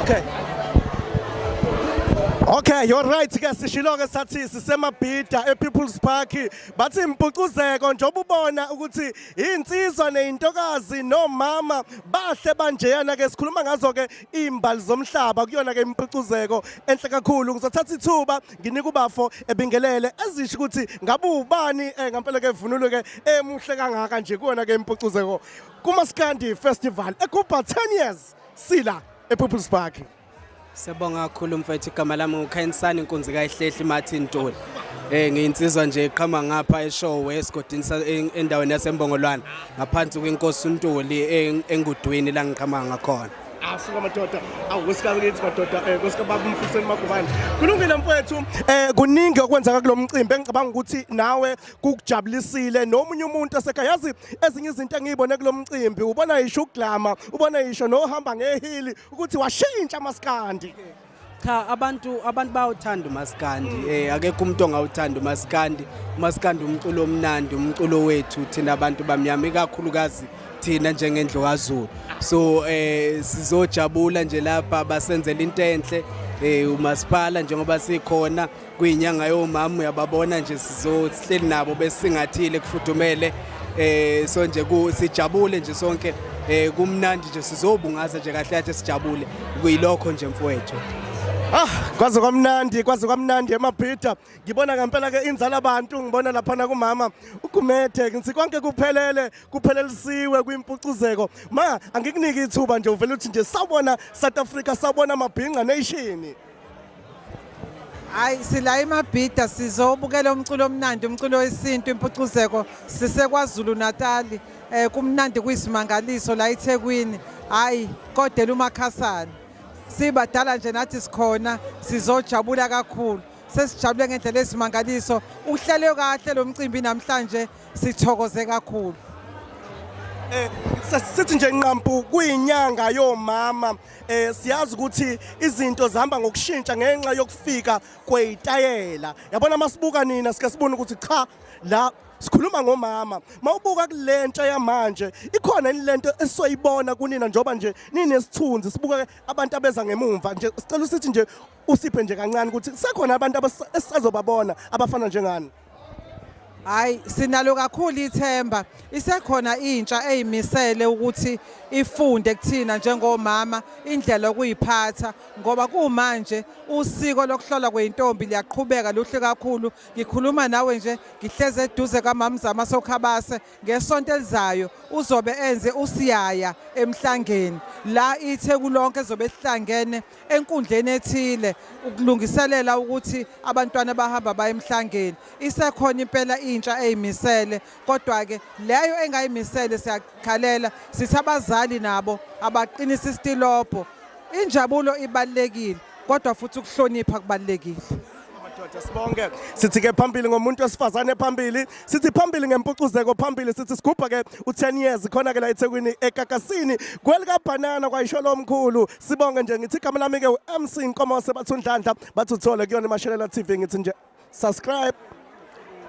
Okay. Okay, you're right ke sishilo ke sathi sisemabhida ePeople's Park bathi impucuzeko njengoba ubona ukuthi insizwa nezintokazi nomama bahle banjeyana ke sikhuluma ngazo ke imbali zomhlaba kuyona ke impucuzeko enhle kakhulu ngizothatha ithuba nginika ubafo ebingelele ezisho ukuthi ngabe ubani eh, ngampela ke vunulo ke emuhle kangaka nje kuyona ke impucuzeko kuMaskandi Festival eKuba 10 years sila ePeople's Park Siyabonga kakhulu mfethu igama lami uKhayensani inkunzi kayihlehli Martin Ntuli Eh ngiyinsizwa nje iqhama ngapha eShowe esigodini endaweni yaseMbongolwana ngaphansi kwenkosi uNtuli engudwini la ngiqhama ngakhona asuka madoda awusikazi kithi madoda um eh, kosikababa umfuseni magubane kulungile mfowethu um eh, kuningi okwenzeka kulo mcimbi engicabanga ukuthi nawe kukujabulisile nomunye umuntu asekhaya yazi ezinye izinto engiyibone kulo mcimbi ubona yisho uglama ubona yisho nohamba ngehili ukuthi washintsha amaskandi cha abantu abantu bayawuthanda umaskandi eh akekho umuntu ongawuthanda umaskandi umaskandi umculo omnandi umculo wethu thina abantu bamnyama ikakhulukazi thina njengendlu kaZulu so eh sizojabula nje lapha basenzela into enhle eh umasipala njengoba sikhona kuyinyanga yomama uyababona nje sizohleli nabo besingathile kufudumele eh so nje sijabule nje sonke eh kumnandi nje sizobungaza nje kahle kahle sijabule kuyilokho nje mfowethu Ah, kwaze kwamnandi, kwaze kwamnandi emabhida. Ngibona ngempela ke inzala abantu, ngibona lapha na kumama uGumede, ngithi konke kuphelele, kuphelelisiwe kwimpucuzeko. Ma, angikuniki ithuba nje uvela uthi nje sawubona South Africa, sawubona mabhinqa nation. Hayi sila iMabhida sizobukela umculo omnandi umculo wesintu impucuzeko sisekwaZulu Natal eh kumnandi kuyisimangaliso la eThekwini hayi kodela umakhasana sibadala nje nathi sikhona sizojabula kakhulu sesijabule ngendlela esimangaliso uhlelwe kahle lo mcimbi namhlanje sithokoze kakhulu eh sithi nje nqampu kuyinyanga yomama eh siyazi ukuthi izinto zihamba ngokushintsha ngenxa yokufika kweyitayela yabona masibuka nina sike sibone ukuthi cha la sikhuluma ngomama mawubuka kulentsha yamanje ikhona inilento esoyibona kunina njoba nje ninesithunzi sibuka abantu abeza ngemumva nje sicela usithi nje usiphe nje kancane ukuthi sekhona abantu esazobabona abafana njengani hayi sinalo kakhulu ithemba isekhona intsha eyimisele ukuthi ifunde kuthina njengomama indlela okuyiphatha ngoba kumanje usiko lokuhlola kweintombi liyaqhubeka luhle kakhulu ngikhuluma nawe nje ngihleze eduze kamamzama sokhabase ngesonto elizayo uzobe enze usiyaya emhlangeni la ithe kulonke zobe sihlangene enkundleni ethile ukulungiselela ukuthi abantwana bahamba baye emhlangeni isekhona impela intsha eyimisele kodwa ke leyo engayimisele siyakhalela sithi abazali nabo abaqinisa isitilobho injabulo ibalekile kodwa futhi ukuhlonipha kubalekile madoda sibonge sithi ke phambili ngomuntu wesifazane phambili sithi phambili ngempucuzeko phambili sithi sigubha ke u10 years khona ke la eThekwini ekakasini kwelika banana kwayisho lomkhulu sibonge nje ngithi igama lami-ke u-mc nkomose bathi undlandla bathi uthole kuyona imashelela tv ngithi nje subscribe